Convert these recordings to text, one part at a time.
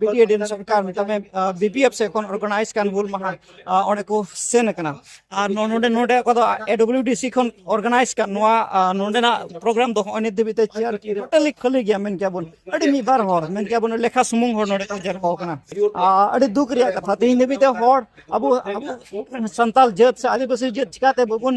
ᱵᱤᱴᱤᱮᱰᱤ ᱥᱚᱨᱠᱟᱨ ᱢᱮᱛᱟᱢᱮ ᱵᱤᱯᱤᱮᱯ ᱥᱮ ᱠᱷᱚᱱ ᱚᱨᱜᱟᱱᱟᱭᱤᱡ ᱠᱟᱱ ᱦᱩᱞ ᱢᱟᱦᱟ ᱚᱸᱰᱮ ᱠᱚ ᱥᱮᱱ ᱟᱠᱟᱱᱟ ᱟᱨ ᱱᱚᱰᱮ ᱱᱚᱰᱮ ᱚᱠᱟ ᱫᱚ ᱮᱰᱚᱵᱞᱤᱭᱩᱰᱤᱥᱤ ᱠᱷᱚᱱ ᱚᱨᱜᱟᱱᱟᱭᱤᱡ ᱠᱟᱱ ᱱᱚᱣᱟ ᱱᱚᱰᱮᱱᱟᱜ ᱯᱨᱳᱜᱨᱟᱢ ᱫᱚ ᱦᱚᱸᱜᱼᱚᱭ ᱱᱤᱛ ᱫᱷᱟᱹᱵᱤᱡ ᱛᱮ ᱪᱮᱭᱟᱨ ᱴᱳᱴᱟᱞᱤ ᱠᱷᱟᱹᱞᱤ ᱜᱮᱭᱟ ᱢᱮᱱ ᱠᱮᱭᱟ ᱵᱚᱱ ᱟᱹᱰᱤ ᱢᱤᱫ ᱵᱟᱨ ᱦᱚᱲ ᱢᱮᱱ ᱠᱮᱭᱟ ᱵᱚᱱ ᱞᱮᱠᱷᱟ ᱥᱩᱢᱩᱝ ᱦᱚᱲ ᱱᱚᱰᱮ ᱠᱚ ᱡᱟᱨᱣᱟ ᱟᱠᱟᱱᱟ ᱟᱹᱰᱤ ᱫᱩᱠ ᱨᱮᱭᱟᱜ ᱠᱟᱛᱷᱟ ᱛᱮᱦᱮᱧ ᱫᱷᱟᱹᱵᱤᱡ ᱛᱮ ᱦᱚᱲ ᱟᱵᱚ ᱟᱵᱚ ᱥᱟᱱᱛᱟᱞ ᱡᱟᱹᱛ ᱥᱮ ᱟᱹᱫᱤᱵᱟᱹᱥᱤ ᱡᱟᱹᱛ ᱪᱤᱠᱟᱛᱮ ᱵᱟᱵᱚᱱ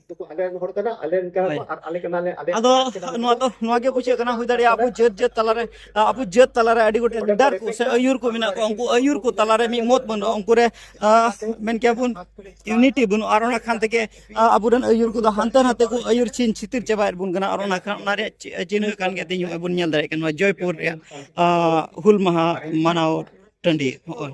ᱟᱫᱚ ᱱᱚᱣᱟ ᱫᱚ ᱱᱚᱣᱟ ᱜᱮ ᱵᱩᱡᱷᱟᱹᱜ ᱠᱟᱱᱟ ᱦᱩᱭ ᱫᱟᱲᱮᱭᱟᱜᱼᱟ ᱟᱵᱚ ᱡᱟᱹᱛ ᱡᱟᱹᱛ ᱛᱟᱞᱟᱨᱮ ᱟᱵᱚ ᱡᱟᱹᱛ ᱛᱟᱞᱟᱨᱮ ᱟᱹᱰᱤ ᱜᱚᱴᱮᱡ ᱞᱤᱰᱟᱨ ᱠᱚ ᱥᱮ ᱟᱹᱭᱩᱨ ᱠᱚ ᱢᱮᱱᱟᱜ ᱠᱚᱣᱟ ᱩᱱᱠᱩ ᱟᱹᱭᱩᱨ ᱠᱚ ᱛᱟᱞᱟᱨᱮ ᱢᱤᱫ ᱢᱚᱛ ᱵᱟᱹᱱᱩᱜᱼᱟ ᱩᱱᱠᱩ ᱨᱮ ᱢᱮᱱ ᱠᱮᱭᱟ ᱵᱚᱱ ᱤᱭᱩᱱᱤᱴᱤ ᱵᱟᱹᱱᱩᱜᱼᱟ ᱟᱨ ᱚᱱᱟ ᱠᱷᱟᱱ ᱛᱮᱜᱮ ᱟᱵᱚᱨᱮᱱ ᱟᱹᱭᱩᱨ ᱠᱚᱫᱚ ᱦᱟᱱᱛᱮ ᱱᱟᱛᱮ ᱠᱚ ᱟᱹᱭᱩᱨ ᱪᱷᱤᱱ ᱪᱷᱤᱛᱤᱨ ᱪᱟᱵᱟᱭᱮᱫ ᱵᱚᱱ ᱠᱟᱱᱟ ᱟᱨ ᱚᱱᱟ ᱠᱷᱟᱱ ᱚᱱᱟ ᱨᱮᱭᱟᱜ ᱪᱤᱱᱦᱟᱹ ᱠᱟᱱ ᱜᱮᱭᱟ ᱛᱮᱦᱮᱧ ᱵᱚᱱ ᱧᱮᱞ ᱫᱟᱲᱮᱭᱟᱜ ᱠᱟᱱᱟ ᱡᱚᱭᱯᱩᱨ ᱨᱮᱭᱟᱜ ᱦᱩᱞ ᱢᱟᱦᱟ ᱢᱟᱱᱟᱣ ᱴᱟᱺᱰᱤ ᱦᱚᱸᱜᱼᱚᱭ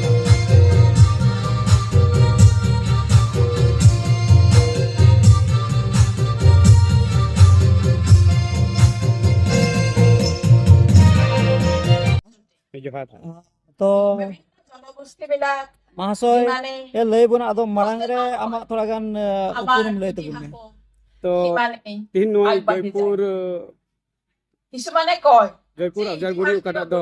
ᱡᱚᱦᱟᱨ ᱛᱚ ᱢᱟᱦᱟᱥᱚᱭ ᱮ ᱞᱟᱹᱭ ᱵᱚᱱᱟ ᱟᱫᱚ ᱢᱟᱲᱟᱝ ᱨᱮ ᱟᱢᱟᱜ ᱛᱷᱚᱲᱟ ᱜᱟᱱ ᱩᱯᱨᱩᱢ ᱞᱟᱹᱭ ᱛᱟᱵᱚᱱ ᱢᱮ ᱛᱚ ᱛᱤᱦᱤᱧ ᱱᱚᱣᱟ ᱡᱚᱭᱯᱩᱨ ᱡᱚᱭᱯᱩᱨ ᱟᱡᱟᱨᱜᱩᱲᱤ ᱚᱠᱟᱴᱟᱜ ᱫᱚ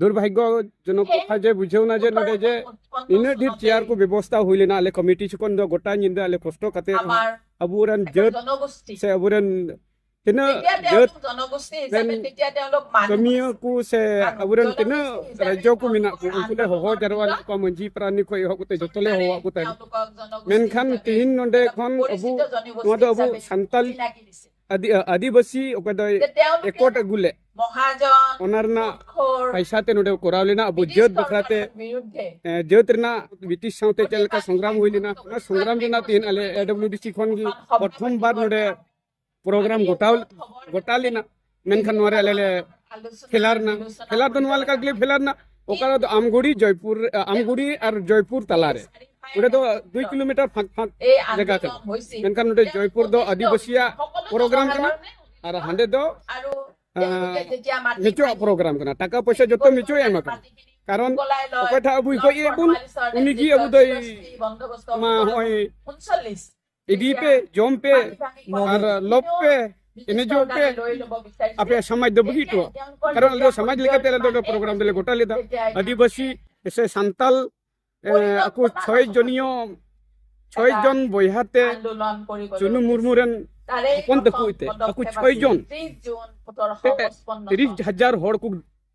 ᱫᱩᱨᱵᱷᱟᱜᱽᱭᱚᱡᱚᱱᱚᱠ ᱠᱟᱛᱷᱟ ᱡᱮ ᱵᱩᱡᱷᱟᱹᱣ ᱱᱟ ᱡᱮ ᱱᱚᱰᱮ ᱡᱮ ᱤᱱᱟᱹ ᱰᱷᱮᱨ ᱪᱮᱭᱟᱨ ᱠᱚ ᱵᱮᱵᱚᱥᱛᱟ ᱦᱩᱭ ᱞᱮᱱᱟ ᱟᱞᱮ ᱠᱚᱢᱤᱴᱤ ᱪᱷᱚᱠᱚᱱ ᱫᱚ ᱜᱚᱴᱟ ᱧᱤᱫᱟᱹ ᱟᱞᱮ ᱠᱚᱥᱴᱚ ᱠᱟᱛᱮ ᱟᱵᱚᱨᱮᱱ ᱡᱟᱹᱛ ᱥᱮ ᱟᱵᱚᱨᱮᱱ ᱛᱤᱱᱟᱹᱜ ᱡᱟᱹᱛ ᱨᱮᱱ ᱠᱟᱹᱢᱤᱭᱟᱹ ᱠᱚ ᱥᱮ ᱟᱵᱚᱨᱮᱱ ᱛᱤᱱᱟᱹᱜ ᱨᱟᱡᱽᱡᱚ ᱠᱚ ᱢᱮᱱᱟᱜ ᱠᱚ ᱩᱱᱠᱩ ᱞᱮ ᱦᱚᱦᱚ ᱡᱟᱨᱣᱟ ᱞᱮᱫ ᱠᱚᱣᱟ ᱢᱟᱹᱡᱷᱤ ᱯᱨᱟᱱᱤ ᱠᱷᱚᱱ ᱮᱦᱚᱵ ᱠᱟᱛᱮ ᱡᱚᱛᱚ ᱞᱮ ᱦᱚᱦᱚᱣᱟᱜ ᱠᱚ ᱛᱟᱦᱮᱸᱫ ᱢᱮᱱᱠᱷᱟᱱ ᱛᱤᱦᱤᱧ ᱱᱚᱰᱮ ᱠᱷᱚᱱ ᱟᱵᱚ ᱱᱚᱣᱟ ᱫᱚ ᱟᱵᱚ ᱥᱟᱱᱛᱟᱞ ᱟᱫᱤ ᱟᱫᱤᱵᱟᱥᱤ ᱚᱠᱟ ᱫᱚ ᱮᱠᱚᱴ ᱟᱹᱜᱩ ᱞᱮ ᱢᱚᱦᱟᱡᱚᱱ ᱚᱱᱟ ᱨᱮᱱᱟᱜ ᱯᱟᱭᱥᱟ ᱛᱮ ᱱᱚᱰᱮ ᱠᱚᱨᱟᱣ ᱞᱮᱱᱟ ᱟᱵᱚ ᱡᱟᱹᱛ ᱵᱟᱠᱷᱨᱟ ᱛᱮ ᱡᱟᱹᱛ ᱨᱮᱱᱟᱜ ᱵᱨᱤᱴᱤᱥ ᱥᱟᱶᱛᱮ ᱪᱮᱫ ᱞᱮᱠᱟ ᱥᱚᱝᱜᱨᱟᱢ ᱦᱩᱭ ᱞᱮᱱᱟ ᱚᱱᱟ ᱥᱚᱝᱜᱨᱟᱢ ᱨᱮᱱᱟᱜ ᱛᱮᱦᱮᱧ ᱟᱞᱮ ᱮᱰᱚᱵᱞᱤᱭᱩᱰᱤᱥᱤ ᱠᱷᱚᱱ ᱜᱮ ᱯᱨᱚᱛᱷᱚᱢ ᱵᱟᱨ ᱱᱚᱰᱮ ᱯᱨᱳᱜᱨᱟᱢ ᱜᱚᱴᱟᱣ ᱜᱚᱴᱟ ᱞᱮᱱᱟ ᱢᱮᱱᱠᱷᱟᱱ ᱱᱚᱣᱟ ᱨᱮ ᱟᱞᱮ ᱞᱮ ᱯᱷᱮᱞᱟᱨ ᱨᱮᱱᱟᱜ ᱯᱷᱮᱞᱟᱨ ᱫᱚ ᱱᱚᱣᱟ ᱞᱮᱠᱟ ᱜᱮᱞᱮ ᱯᱷᱮᱞᱟᱨ ᱨᱮᱱᱟᱜ ᱚᱠᱟ ᱫᱚ ᱟᱢᱜᱩᱲᱤ ᱡᱚᱭᱯᱩᱨ ᱟᱢᱜᱩᱲᱤ ᱟᱨ ᱡᱚᱭᱯᱩᱨ ᱛᱟᱞᱟᱨᱮ ᱚᱸᱰᱮ ᱫᱚ ᱫᱩᱭ ᱠᱤᱞᱳᱢᱤᱴᱟᱨ ᱯᱷᱟᱸᱠ ᱯᱷᱟᱸᱠ ᱡᱟᱭᱜᱟ ᱠᱟᱱᱟ ᱢᱮᱱᱠᱷᱟᱱ ᱱᱚᱰᱮ ᱡᱚᱭᱯᱩᱨ ᱫᱚ ᱟᱹᱫᱤᱵᱟᱹᱥᱤᱭᱟᱜ ᱯᱨᱳᱜᱨᱟᱢ ᱠᱟᱱᱟ ᱟᱨ ᱦᱟᱸᱰᱮ ᱫᱚ ᱢᱤᱪᱩᱣᱟᱜ ᱯᱨᱳᱜᱨᱟᱢ ᱠᱟᱱᱟ ᱴᱟᱠᱟ ᱯᱚᱭᱥᱟ ᱡᱚᱛᱚ ᱢᱤᱪᱩᱣᱟᱜ ᱮᱢ ᱠᱟᱱᱟ ᱠᱟᱨᱚᱱ ᱚᱠᱚᱭ ᱴᱷᱟ ᱟᱵᱩᱭ ᱜᱚᱡ ᱮᱫ ᱵᱚᱱ ᱩᱱᱤ ᱜᱮ ᱟᱵᱩ ᱫᱚᱭ ᱢᱟ ᱦᱚᱸᱜᱼᱚᱭ ᱤᱫᱤ ᱯᱮ ᱡᱚᱢ ᱯᱮ ᱟᱨ ᱞᱚᱵ ᱯᱮ ᱮᱱᱮᱡᱚᱜ ᱯᱮ ᱟᱯᱮᱭᱟᱜ ᱥᱚᱢᱟᱡᱽ ᱫᱚ ᱵᱩᱜᱤ ᱦᱚᱴᱚ ᱠᱟᱨᱚᱱ ᱟᱞᱮ ᱫᱚ ᱥᱚᱢᱟᱡᱽ ᱞᱮᱠᱟᱛᱮ ᱟᱞᱮ ᱫᱚ ᱯᱨᱳᱜᱨᱟᱢ ᱫᱚᱞᱮ ᱜᱚᱴᱟ ᱞᱮᱫᱟ ᱟᱹᱫᱤᱵᱟᱹᱥᱤ ᱥᱮ ᱥᱟᱱᱛᱟᱞ ᱟᱠᱚ ᱪᱷᱚᱭ ᱡᱚᱱᱤᱭᱚ ᱪᱷᱚᱭ ᱡᱚᱱ ᱵᱚᱭᱦᱟ ᱛᱮ ᱪᱩᱱᱩ ᱢᱩᱨᱢᱩ ᱨᱮᱱ ᱦᱚᱯᱚᱱ ᱛᱟᱠᱚ ᱛᱮ ᱟᱠᱚ ᱪᱷᱚᱭ ᱡᱚᱱ ᱛᱤᱨᱤᱥ ᱦᱟᱡᱟᱨ ᱦᱚᱲ ᱠᱚ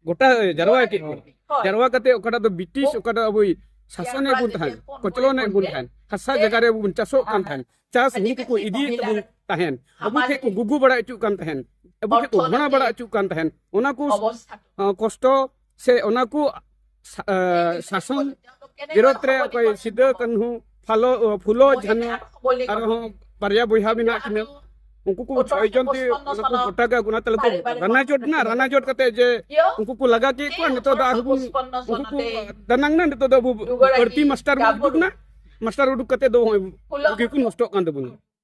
ᱜᱚᱴᱟ ᱡᱟᱨᱣᱟ ᱠᱮᱫ ᱵᱚᱱ ᱡᱟᱨᱣᱟ ᱠᱟᱛᱮ ᱚᱠᱟᱴᱟᱜ ᱫᱚ ᱵᱨᱤᱴᱤᱥ ᱚᱠᱟᱴᱟᱜ ᱟᱵᱚ ᱥᱟᱥᱚᱱ ᱮᱫ ᱵᱚᱱ ᱛᱟᱦᱮᱸᱱ ᱠᱚᱪᱞᱚᱱ ᱮᱫ ᱵᱚᱱ ᱛᱟᱦᱮᱸᱱ ᱦᱟᱥᱟ ᱡᱟᱭᱜᱟ ᱨᱮ ᱵᱚᱱ ᱪᱟᱥᱚᱜ ᱠᱟᱱ ᱛᱟᱦᱮᱸᱱ ᱪᱟᱥ ᱦᱩᱲᱩ ᱠᱚᱠᱚ ᱤᱫᱤᱭᱮᱫ ᱛᱟᱵᱚᱱ ᱛᱟᱦᱮᱸᱱ ᱟᱵᱚ ᱴᱷᱮᱱ ᱠᱚ ᱜᱩᱜᱩ ᱵᱟᱲᱟ ᱦᱚᱪᱚᱜ ᱠᱟᱱ ᱛᱟᱦᱮᱸᱱ ᱟᱵᱚ ᱴᱷᱮᱱ ᱠᱚ ᱜᱷᱚᱬᱟ ᱵᱟᱲᱟ ᱦᱚᱪᱚᱜ ᱠᱟᱱ ᱛᱟᱦᱮᱸᱱ ᱚᱱᱟ ᱠᱚ ᱠᱚᱥᱴᱚ ᱥᱮ ᱚᱱᱟ ᱠᱚ ᱥᱟᱥᱚᱱ ᱵᱤᱨᱳᱫᱷ ᱨᱮ ᱚᱠᱚᱭ ᱥᱤᱫᱟᱹ ᱠᱟᱹᱱᱦᱩ ᱯᱷᱟᱞᱚ ᱯᱷᱩᱞᱚ ᱡᱷᱟᱱᱚ ᱟᱨᱦᱚᱸ ᱵᱟᱨᱭᱟ ᱵᱚᱭᱦᱟ ᱢᱮᱱᱟᱜ ᱠᱤᱱᱟ ᱩᱱᱠᱩ ᱠᱚ ᱯᱨᱚᱭᱳᱡᱚᱱ ᱛᱮ ᱚᱱᱟ ᱠᱚ ᱜᱚᱴᱟ ᱜᱮ ᱚᱱᱟ ᱛᱟᱞᱮ ᱠᱚ ᱨᱟᱱᱟ ᱡᱚᱴ ᱱᱟ ᱨᱟᱱᱟ ᱡᱚᱴ ᱠᱟᱛᱮ ᱡᱮ ᱩᱱᱠᱩ ᱠᱚ ᱞᱟᱜᱟ ᱠᱮᱫ ᱠᱚᱣᱟ ᱱᱤᱛᱚᱜ ᱫᱚ ᱟᱨᱦᱚᱸ ᱵᱚᱱ ᱩᱱᱠᱩ ᱠᱚ ᱫᱟᱱᱟᱝ ᱱᱟ ᱱᱤᱛᱚᱜ ᱫᱚ ᱵᱟᱹᱲᱛᱤ ᱢᱟᱥᱴᱟᱨ ᱵᱚᱱ ᱩᱰᱩᱠ ᱱᱟ ᱢᱟᱥᱴᱟᱨ ᱩᱰᱩᱠ ᱠᱟᱛᱮ ᱫᱚ ᱱᱚᱜᱼᱚᱭ ᱜᱮᱠᱚ ᱱᱚᱥᱴᱚᱜ ᱠᱟᱱ ᱛᱟᱵᱚᱱᱟ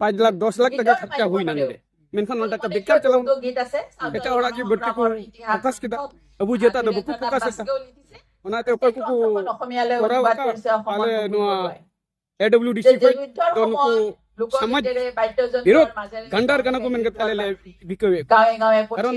ᱯᱟᱸᱪ ᱞᱟᱠᱷ ᱫᱚᱥ ᱞᱟᱠᱷ ᱴᱟᱠᱟ ᱠᱷᱚᱨᱪᱟ ᱦᱩᱭᱱᱟ ᱱᱚᱰᱮ ᱢᱮᱱᱠᱷᱟᱱ ᱱᱚᱰᱮ ᱴᱟᱠᱟ ᱵᱮᱠᱟᱨ ᱪᱟᱞᱟᱣ ᱮᱴᱟᱜ ᱦᱚᱲᱟᱜ ᱜᱮ ᱵᱟᱹᱲᱛᱤ ᱠᱚ ᱯᱷᱳᱠᱟᱥ ᱠᱮᱫᱟ ᱟᱵᱚ ᱡᱟᱹᱛᱟᱜ ᱫᱚ ᱵᱟᱠᱚ ᱯᱷᱳᱠᱟᱥ ᱮᱫᱟ ᱚᱱᱟᱛᱮ ᱚᱠᱚᱭ ᱠᱚᱠᱚ ᱠᱚᱨᱟᱣ ᱟᱠᱟᱫ ᱟᱞᱮ ᱱᱚᱣᱟ ᱮᱰᱚᱵᱞᱤᱭᱩᱰᱤᱥᱤ ᱠᱷᱚᱱ ᱫᱚ ᱱᱩᱠᱩ ᱥᱚᱢᱟᱡᱽ ᱵᱤᱨᱳᱫ ᱜᱟᱱᱰᱟᱨ ᱠᱟᱱᱟ ᱠᱚ ᱢᱮᱱ ᱠᱟᱛᱮ ᱟᱞᱮ ᱞᱮ ᱵᱤᱠᱟᱹᱣᱮᱫ ᱠᱟᱨᱚᱱ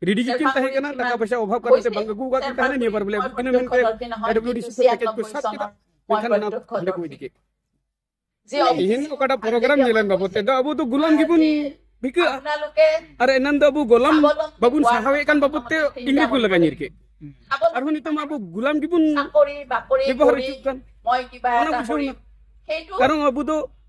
ᱨᱮᱰᱤ ᱜᱮᱠᱤᱱ ᱛᱟᱦᱮᱸ ᱠᱟᱱᱟ ᱴᱟᱠᱟ ᱯᱚᱭᱥᱟ ᱚᱵᱷᱟᱵ ᱠᱟᱨᱚᱱ ᱛᱮ ᱵᱟᱝ ᱟᱹᱜᱩ ᱠᱟᱜ ᱠᱤᱱ ᱛᱟᱦᱮᱸ ᱱᱤᱭᱟᱹ ᱵᱟᱨ ᱵᱚᱞᱮ ᱟᱹᱜᱩ ᱠᱤᱱᱟ ᱢᱮᱱᱛᱮ ᱰᱟᱵᱞᱤᱭᱩᱰᱤᱥᱤ ᱠᱚ ᱯᱮᱠᱮᱡ ᱠᱚ ᱥᱟᱵ ᱠᱮᱫᱟ ᱢᱮᱱᱠᱷᱟᱱ ᱚᱱᱟ ᱦᱟᱸᱰᱮ ᱠᱚ ᱤᱫᱤ ᱠᱮᱫ ᱛᱤᱦᱤᱧ ᱚᱠᱟᱴᱟᱜ ᱯᱨᱳᱜᱨᱟᱢ ᱧᱮᱞᱮᱱ ᱵᱟᱵᱚ ᱛᱮ ᱫᱚ ᱟᱵᱚ ᱫᱚ ᱜᱩᱞᱟᱢ ᱜᱮᱵᱚᱱ ᱵᱷᱤᱠᱟᱹᱜᱼᱟ ᱟᱨ ᱮᱱᱟᱱ ᱫᱚ ᱟᱵᱚ ᱜᱚᱞᱟᱢ ᱵᱟᱵᱚᱱ ᱥᱟᱦᱟᱣᱮᱫ ᱠᱟᱱ ᱵᱟᱵᱚ ᱛᱮ ᱤᱝᱨᱮᱡᱽ ᱠᱚ ᱞᱟᱜᱟ ᱧᱤᱨ ᱠᱮᱫ ᱟᱨᱦᱚᱸ ᱱᱤᱛᱚᱜ ᱟᱵᱚ ᱜᱩᱞᱟᱢ ᱜᱮᱵᱚᱱ ᱵᱮᱵᱚᱦᱟᱨ ᱦᱚᱪᱚᱜ ᱠᱟᱱ ᱚᱱᱟ ᱵᱩᱡᱷᱟᱹᱣ ᱠᱟᱨᱚᱱ ᱟᱵᱚ ᱫᱚ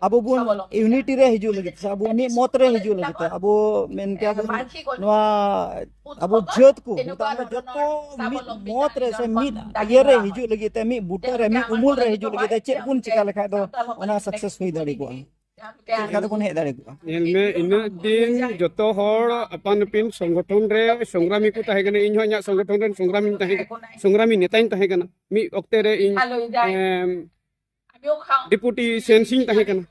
ᱟᱵᱚ ᱵᱚᱱ ᱤᱭᱩᱱᱤᱴᱤ ᱨᱮ ᱦᱤᱡᱩᱜ ᱞᱟᱹᱜᱤᱫ ᱥᱮ ᱟᱵᱚ ᱢᱤᱫ ᱢᱚᱛ ᱨᱮ ᱦᱤᱡᱩᱜ ᱞᱟᱹᱜᱤᱫ ᱛᱮ ᱟᱵᱚ ᱢᱮᱱ ᱠᱮᱭᱟ ᱵᱚᱱ ᱱᱚᱣᱟ ᱟᱵᱚ ᱡᱟᱹᱛ ᱠᱚ ᱢᱮᱛᱟᱜ ᱢᱮ ᱡᱚᱛᱚ ᱢᱤᱫ ᱢᱚᱛ ᱨᱮ ᱥᱮ ᱢᱤᱫ ᱤᱭᱟᱹ ᱨᱮ ᱦᱤᱡᱩᱜ ᱞᱟᱹᱜᱤᱫ ᱛᱮ ᱢᱤᱫ ᱵᱩᱴᱟᱹ ᱨᱮ ᱢᱤᱫ ᱩᱢᱩᱞ ᱨᱮ ᱦᱤᱡᱩᱜ ᱞᱟᱹᱜᱤᱫ ᱛᱮ ᱪᱮᱫ ᱵᱚᱱ ᱪᱤᱠᱟ ᱞᱮᱠᱷᱟᱡ ᱫᱚ ᱚᱱᱟ ᱥᱟᱠᱥᱮᱥ ᱦᱩᱭ ᱫᱟᱲᱮ ᱠᱚᱜᱼᱟ ᱪᱮᱫ ᱛᱮᱵᱚᱱ ᱦᱮᱡ ᱫᱟᱲᱮ ᱠᱚᱜᱼᱟ ᱧᱮᱞᱢᱮ ᱤᱱᱟᱹᱜ ᱫᱤᱱ ᱡᱚᱛᱚ ᱦᱚᱲ ᱟᱯᱟᱱ ᱟᱹᱯᱤᱱ ᱥᱚᱝᱜᱚᱴᱷᱚᱱ ᱨᱮ ᱥᱚᱝᱜᱨᱟᱢᱤ ᱠᱚ ᱛᱟᱦᱮᱸ ᱠᱟᱱᱟ ᱤᱧ ᱦᱚᱸ ᱤᱧᱟᱹᱜ ᱥᱚᱝᱜᱚᱴᱷᱚᱱ ᱨᱮᱱ ᱥᱚᱝᱜᱨᱟᱢᱤᱧ ᱛᱟᱦᱮᱸ ᱥᱚᱝᱜᱨᱟᱢᱤ ᱱᱮᱛᱟᱧ ᱛᱟᱦᱮᱸ ᱠᱟᱱᱟ ᱢᱤᱫ ᱚᱠᱛᱮ ᱨᱮ ᱤᱧ ᱰᱮᱯᱩᱴᱤ ᱥᱮᱱᱥᱤᱝ ᱛᱟᱦᱮᱸ ᱠᱟᱱᱟ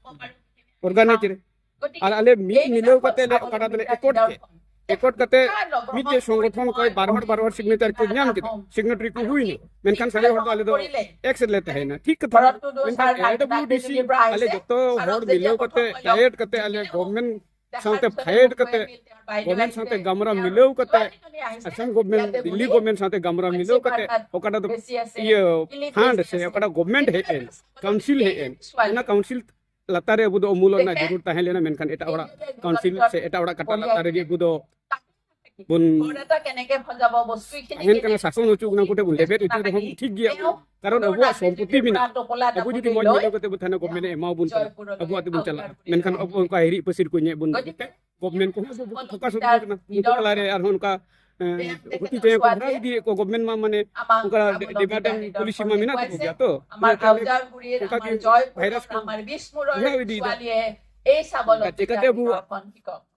ᱚᱨᱜᱟᱱᱟᱭᱤᱡ ᱨᱮ ᱟᱨ ᱟᱞᱮ ᱢᱤᱫ ᱢᱤᱞᱟᱹᱣ ᱠᱟᱛᱮ ᱞᱮ ᱚᱠᱟᱴᱟᱜ ᱫᱚᱞᱮ ᱮᱠᱚᱴ ᱠᱮᱫ ᱮᱠᱚᱴ ᱠᱟᱛᱮ ᱢᱤᱫᱴᱮᱡ ᱥᱚᱝᱜᱚᱴᱷᱚᱱ ᱠᱚᱭ ᱵᱟᱨ ᱦᱚᱲ ᱵᱟᱨ ᱦᱚᱲ ᱥᱤᱜᱱᱮᱪᱟᱨ ᱠᱚ ᱧᱟᱢ ᱠᱮᱫᱟ ᱥᱤᱜᱱᱮᱴᱟᱨᱤ ᱠᱚ ᱦᱩᱭᱱᱟ ᱢᱮᱱᱠᱷᱟᱱ ᱥᱟᱨᱮ ᱦᱚᱲ ᱫᱚ ᱟᱞᱮ ᱫᱚ ᱮᱠᱥ ᱨᱮᱞᱮ ᱛᱟᱦᱮᱸᱱᱟ ᱴᱷᱤᱠ ᱠᱟᱛᱷᱟ ᱢᱮᱱᱠᱷᱟᱱ ᱮᱰᱵᱞᱤᱭᱩᱰᱤᱥᱤ ᱟᱞᱮ ᱡᱚᱛᱚ ᱦᱚᱲ ᱢᱤᱞᱟᱹᱣ ᱠᱟᱛᱮ ᱰᱟᱭᱮᱴ ᱠᱟᱛᱮ ᱟᱞᱮ ᱜᱚᱵᱷᱢᱮᱱᱴ ᱥᱟᱶᱛᱮ ᱯᱷᱟᱭᱮᱴ ᱠᱟᱛᱮ ᱜᱚᱵᱷᱢᱮᱱᱴ ᱥᱟᱶᱛᱮ ᱜᱟᱢᱨᱟ ᱢᱤᱞᱟᱹᱣ ᱠᱟᱛᱮ ᱟᱥᱟᱢ ᱜᱚᱵᱷᱢᱮᱱᱴ ᱫᱤᱞᱞᱤ ᱜᱚᱵᱷᱢᱮᱱᱴ ᱥᱟᱶᱛᱮ ᱜᱟᱢᱨᱟ ᱢᱤᱞᱟᱹᱣ ᱠᱟᱛᱮ ᱚᱠᱟᱴᱟ ᱫᱚ ᱤᱭᱟᱹ ᱯᱷᱟᱱᱰ ᱥᱮ ᱚᱠᱟᱴᱟ ᱜᱚᱵᱷᱢᱮᱱᱴ ᱦᱮᱡ ᱮᱱ ᱠᱟᱣᱩᱱᱥᱤᱞ ᱦᱮᱡ ᱮᱱ ᱚᱱᱟ ᱠᱟᱣᱩᱱᱥᱤᱞ ᱞᱟᱛᱟᱨ ᱨᱮ ᱟᱵᱚ ᱫᱚ ᱚᱢᱩᱞᱚᱜ ᱨᱮᱱᱟᱜ ᱡᱟᱹᱨᱩᱲ ᱛᱟᱦᱮᱸ ᱞᱮᱱᱟ ᱢᱮᱱᱠᱷᱟᱱ ᱮᱴᱟᱜ ᱦᱚᱲᱟᱜ ᱠᱟᱣᱩᱱᱥᱤᱞ ᱥᱮ ᱮᱴᱟᱜ ᱦᱚᱲᱟᱜ ᱠᱟᱴᱟ ᱞᱟᱛᱟᱨ ᱨᱮᱜᱮ ᱟᱵᱚ ᱫᱚ ᱥᱟᱥᱚᱱ ᱦᱚᱪᱚ ᱚᱱᱟ ᱠᱚᱴᱷᱮᱱ ᱵᱚᱱ ᱞᱮᱵᱮᱫ ᱦᱚᱪᱚ ᱨᱮᱦᱚᱸ ᱴᱷᱤᱠ ᱜᱮᱭᱟ ᱠᱟᱨᱚᱱ ᱟᱵᱚᱣᱟᱜ ᱥᱚᱢᱯᱚᱛᱤ ᱢᱮᱱᱟᱜᱼᱟ ᱟᱵᱚ ᱡᱩᱫᱤ ᱢᱚᱡᱽ ᱧᱮᱞ ᱠᱟᱛᱮ ᱵᱚ ᱛᱟᱦᱮᱱᱟ ᱜᱚᱵᱷᱢᱮᱱᱴ ᱮᱢᱟᱵᱚᱱ ᱠᱟᱱᱟ ᱟᱵᱚᱣᱟᱜ ᱛᱮᱵᱚᱱ ᱪᱟᱞᱟᱜᱼᱟ ᱢᱮᱱᱠᱷᱟᱱ ᱟᱵᱚ ᱚᱱᱠᱟ ᱦᱤᱨᱤ ᱯᱟᱹᱥᱤᱨ ᱠᱚ ᱧᱮᱞ ᱵᱚᱱ ᱜᱚᱵᱷᱢᱮᱱᱴ ᱠᱚᱦᱚᱸ ᱯᱷᱳᱠᱟᱥ ᱦᱚᱪᱚ ᱠᱟᱱᱟ ᱩᱱᱠᱩ ᱛᱟᱞᱟᱨᱮ ᱟᱨᱦᱚᱸ ᱚᱱᱠᱟ ᱦᱩᱛᱤ ᱛᱮ ᱠᱚ ᱦᱟᱨᱟ ᱤᱫᱤᱭᱮᱫ ᱠᱚ ᱜᱚᱵᱷᱢᱮᱱᱴ ᱢᱟ ᱢᱟᱱᱮ ᱚᱱᱠᱟ ᱰᱤᱢᱟᱰᱮᱢ ᱯᱚᱞᱤᱥᱤ ᱢᱟ ᱢᱮᱱᱟᱜ ᱛᱟᱠᱚ ᱜᱮᱭᱟ ᱛᱚ ᱚᱱᱠᱟ ᱜᱮ ᱵᱷᱟᱭᱨᱟᱥ ᱠᱚ ᱦᱟᱨᱟ ᱤᱫᱤᱭᱮᱫᱟ ᱪᱮᱠᱟᱛᱮ ᱟᱵᱚ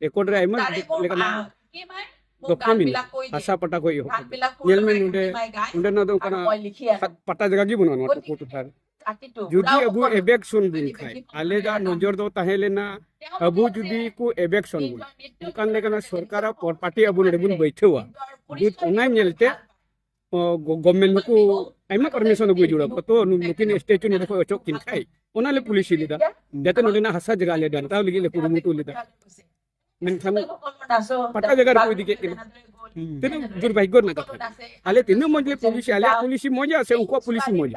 ᱨᱮᱠᱚᱨᱰ ᱨᱮ ᱟᱭᱢᱟ ᱞᱮᱠᱟᱱᱟᱜ ᱫᱚᱯᱛᱚᱨ ᱢᱮᱱᱟᱜᱼᱟ ᱦᱟᱥᱟ ᱯᱟᱴᱟ ᱠᱷᱚᱱ ᱮᱦᱚᱵ ᱧᱮᱞ ᱢᱮ ᱱᱚᱰᱮ ᱱᱚᱰᱮᱱᱟᱜ ᱫᱚ ᱚᱱᱠᱟᱱᱟᱜ ᱯᱟᱴᱟ ᱡᱟᱭᱜᱟ ᱜᱮ ᱵᱟᱹᱱᱩᱜᱼᱟ ᱱᱚᱣᱟ ᱴᱩᱠᱩ ᱴᱚᱴᱷᱟ ᱨᱮ ᱡᱩᱫᱤ ᱟᱵᱚ ᱮᱵᱮᱠᱥᱚᱱ ᱵᱚᱱ ᱠᱷᱟᱡ ᱟᱞᱮ ᱫᱚ ᱱᱚᱡᱚᱨ ᱫᱚ ᱛᱟᱦᱮᱸ ᱞᱮᱱᱟ ᱟᱵᱚ ᱡᱩᱫᱤ ᱠᱚ ᱮᱵᱮᱠᱥᱚᱱ ᱵᱚᱱ ᱚᱱᱠᱟᱱ ᱞᱮᱠᱟᱱᱟᱜ ᱥᱚᱨᱠᱟᱨᱟᱜ ᱯᱟᱨᱴᱤ ᱟᱵᱚ ᱱᱚᱰᱮ ᱵᱚᱱ ᱵᱟᱹᱭᱴᱷᱟᱹᱣᱟ ᱚᱱᱟ ᱧᱮᱞᱛᱮ ᱜᱚᱵᱷᱢᱮᱱᱴ ᱱᱩᱠᱩ ᱟᱭᱢᱟ ᱯᱟᱨᱢᱤᱥᱚᱱ ᱟᱹᱜᱩ ᱡᱩᱲᱟ ᱠᱚ ᱛᱚ ᱱᱩᱠᱤᱱ ᱥᱴᱮᱪᱩ ᱱᱚᱰᱮ ᱠᱷᱚᱱ ᱚᱪᱚᱜ ᱠᱤᱱ ᱠᱷᱟᱡ ᱚᱱᱟ ᱞᱮ ᱯᱩᱞᱤᱥ ᱞᱮᱫᱟ ᱡᱟᱛᱮ ᱱᱚᱰᱮᱱᱟᱜ ᱦᱟᱥᱟ ᱡᱟᱭᱜᱟ ᱞᱮ ᱰᱟᱱᱴᱟᱣ ᱞᱟᱹᱜᱤᱫ ᱞᱮ ᱠᱩᱨᱩᱢᱩᱴᱩ ᱞᱮᱫᱟ ᱢᱮᱱᱠᱷᱟᱱ ᱯᱟᱴᱟ ᱡᱟᱭᱜᱟ ᱨᱮᱠᱚ ᱤᱫᱤ ᱠᱮᱫ ᱠᱤᱱᱟ ᱛᱤᱱᱟᱹᱜ ᱫᱩᱨᱵᱷᱟᱜᱽᱜᱚ ᱨᱮᱱᱟᱜ ᱠᱟᱛᱷᱟ ᱟᱞᱮ ᱛᱤᱱᱟᱹᱜ ᱢᱚᱡᱽ ᱞᱮ ᱯᱩᱞᱤᱥ ᱟᱞᱮᱭᱟᱜ ᱯᱩᱞᱤᱥᱤ ᱢᱚᱡᱟ ᱥᱮ ᱩᱱᱠᱩᱣᱟᱜ ᱯᱩᱞᱤᱥᱤ ᱢᱚᱡᱟ